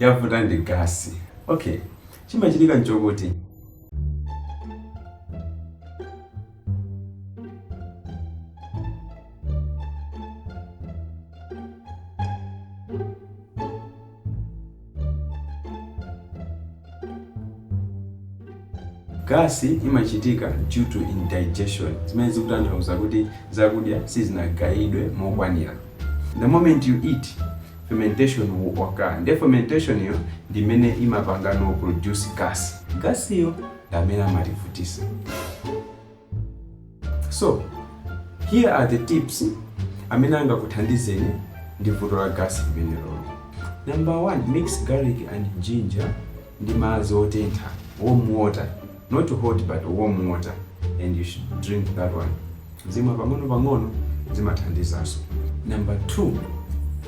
Yavuta ndi gas. Ok, chimachitika nchokuti gas imachitika due to indigestion zimene zikutanthauza kuti zakudya sizinagayidwe mokwanira the moment you eat fermentation will occur. Ndiye fermentation yo ndi imene imapangano produce gas. Gas yo ndi amene amativutisa. So, here are the tips amene angakuthandizeni ndi vuto la gas limeneloli. Number one, mix garlic and ginger ndi madzi otentha warm water not hot but warm water and you should drink that one kuzimwa pang'ono pang'ono zimathandizaso number two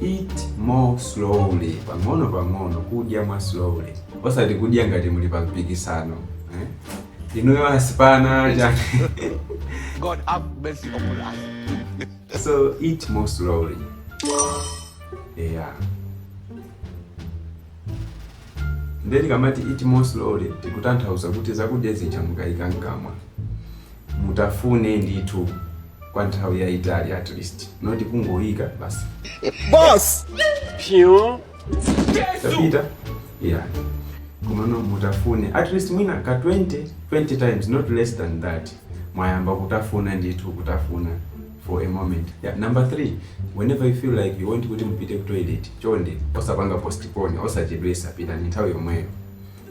eat more slowly pang'ono pang'ono kudya more slowly osati kudya ngati muli pa mpikisano eh? inuyo asipana chani God have mercy upon us. so eat more slowly yeah Ndiye tikamati eat more slowly tikutanthauza kuti zakudya zija mukaika mkamwa mutafune ndithu kwa nthawi yayitali at least not kungoyika basi Boss! Phew. tapita yeah komano mutafune at least mwina ka 20 20 times not less than that mwayamba kutafuna ndithu kutafuna for a moment yeah. number three whenever you feel like you want kuti mupite ku toilet chonde osapanga postpone osachedwesa pitani nthawi yomweyo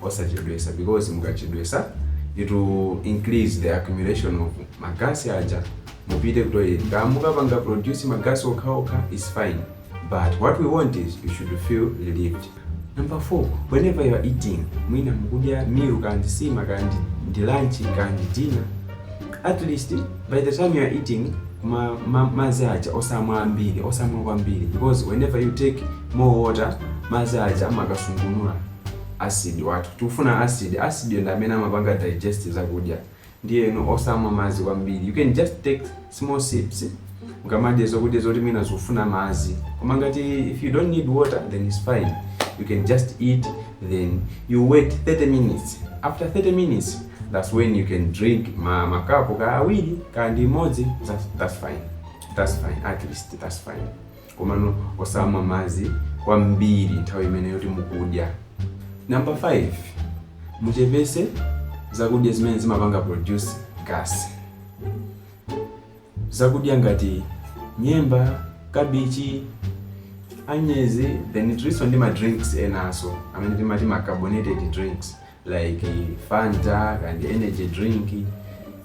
osachedwesa because mukachedwesa it will increase the accumulation of magasi aja mupite ku toilet kaya mukapanga produce magasi okhaokha is fine but what we want is you should feel relieved Number 4, whenever you're eating, mwina mukudya meal kaya ndi sima kaya ndi, ndi lunch kaya ndi dinner, at least by the time you're eating ma, ma, madzi aja osamwa ambiri osamwa kwambiri because whenever you take more water madzi aja amakasungunula acid wathu tikufuna acid acid yo ndi amene amapanga digest zakudya Ndiyeno osamwa madzi kwambiri. You can just take small sips mukamadya zokudya zoti mwina zikufuna madzi. Koma ngati if you don't need water then it's fine. You can just eat then you wait 30 minutes. After 30 minutes that's when you can drink ma makapu kaya awiri kaya ndi imodzi that's, that's fine. That's fine at least that's fine. Komano osamwa madzi kwambiri nthawi imene yoti mukudya. Number 5, muchepese zakudya zimene zimapanga produce gas. Zakudya ngati nyemba, kabichi, anyezi, then tilinso ndi ma drinks enaso amene timati ma carbonated drinks. like fanta and energy drink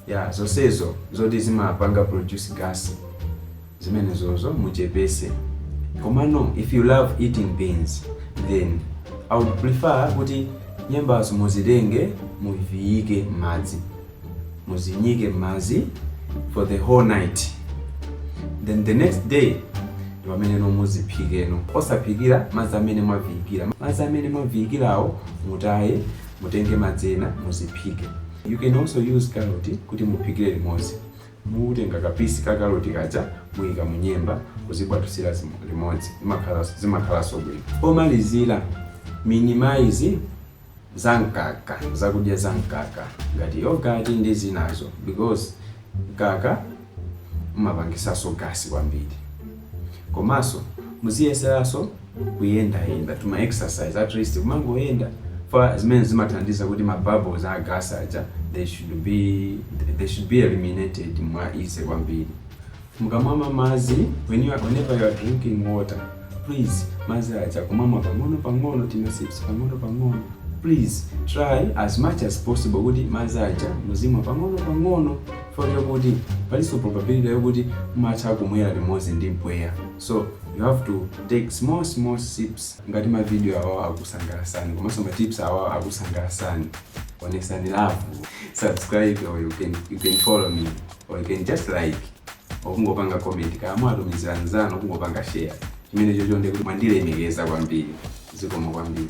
ya zonsezo zoti zimapanga produce gas zimenezozo muchepese komano if you love eating beans then i would prefer kuti nyembazo muzitenge muviyike m'madzi muzinyike mmadzi for the whole night then the next day ndi pamene no muziphike no osaphikira madzi amene mwaviyikira madzi amene mwaviyikirawo mutaye mutenge madzi ena muziphike you can also use carrot kuti muphikire limodzi mutenga kapisi ka carrot kaja muyika munyemba kuzibwatusira limodzi zimakhalanso bwino pomalizira minimize za mkaka zakudya za mkaka ngati yogurt ndi zinazo because mkaka umapangisaso gasi kwambiri komanso muziyeseranso kuyendayenda tuma exercise at least kumangoyenda for zimene zimathandiza kuti ma bubbles a gas aja they should be eliminated mwa easy kwambiri Mukamamwa madzi, when you are, whenever you are drinking water, please madzi aja kumamwa pang'ono pang'ono tima sips pang'ono pang'ono please try as much as possible kuti madzi aja muzimwa pang'ono pang'ono for yokuti palinso probability yokuti mumatha kumwera limodzi ndi mpweya so you have to take small small sips ngati mavidiyo awawo akusangalasani komanso matips awawo akusangalasani onesani love subscribe or you can, you can follow me or you can just like okungopanga comment kaya mwatumizira anzanu okungopanga share chimene chocho ndikuti mwandilemekeza kwambiri zikomo kwambiri